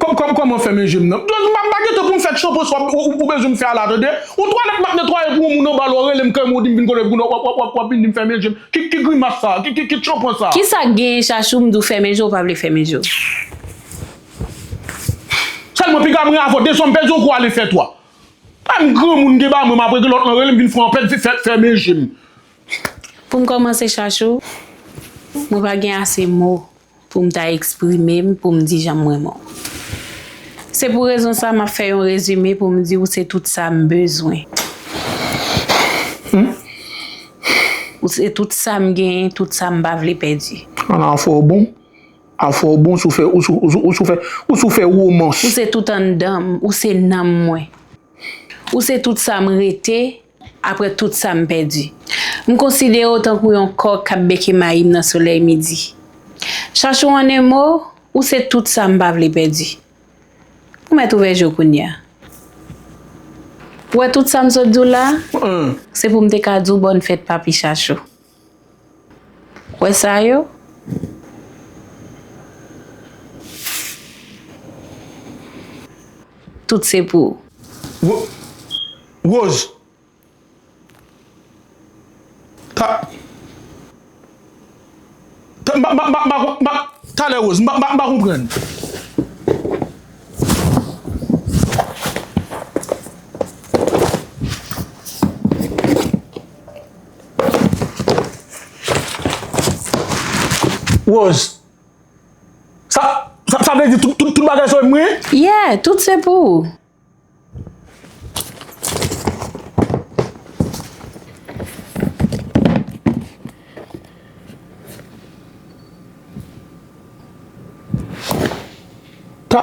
Kòman fè men je m nan? M pa gen tan pou m fè tchonpon sa ou bezwen m fè a la tande. Yon twalèt m ap netwaye pou yon moun anba la w rele m kèm ou di m vin kole pou w ap vin di m fèmen je m. Ki grimas sa a? Ki tchonpon sa a? Ki sa k genyen Chachou m di w fèmen je w pa vle fèmen je w? Sèlman piga m ren avè w de zwa m pèdi yon kou ale fè twa. Kay m granmoun gen bagay mwen m ap regle lòt lan rele m vin fè anpè fèmen je m. Pou m kòmanse Chachou mwen pa gen ase mo. Pou m ta eksprime m, pou m di jan m renmen w. Se pou rezon sa m ap fè yon rezime pou m di ou se tout sa m bezwen. Ou se tout sa m genyen, tout sa m pa vle pèdi. Ala afè w bon, afè w bon, ou sou fè romans. Ou se tout anndan m, ou se nanm mwen. Ou se tout sa m rete. Apre tout sa m pèdi. M konsidere w tankou yon kòk k ap beke mayi m nan solèy midi. Chachou an 1 mo, ou se tout sa m pa vle pèdi. Ou mèt ouvè je w kounye a. Ou wè tout sa m sot di w la, se pou m te ka di w bòn fèt papi Chachou. Wè sa yo? Tout se pou. Rose. Ta. Talè Rose, m pa konprann. Rose, Sa, sa, sa vle di tout, tout, tout bagay se pou mwen? Yeah, tout se pou ou. Ta.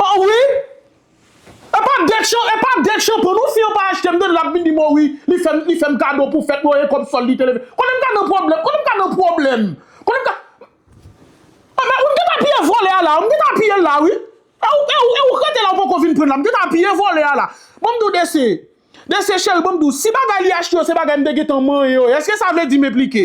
Oh wi Epa det chan epa det chan pran non si an pa achte mtande lap vin dim oh wi li fèm li fèm kado pou fèt mwen e kòb sòl li te leve konnen mka nan pwoblèm konnen mka nan pwoblèm konnen mka Ebyen ou geta piye vòlè a la ou geta piyel la wi e ou e ou e ou k rete la ou poko vin prann la mgeta piye vòlè a la banm diw dese dese cheri banm diw si bagay li achte yo se bagay mte gentan manyen yo eske sa vle di m enplike.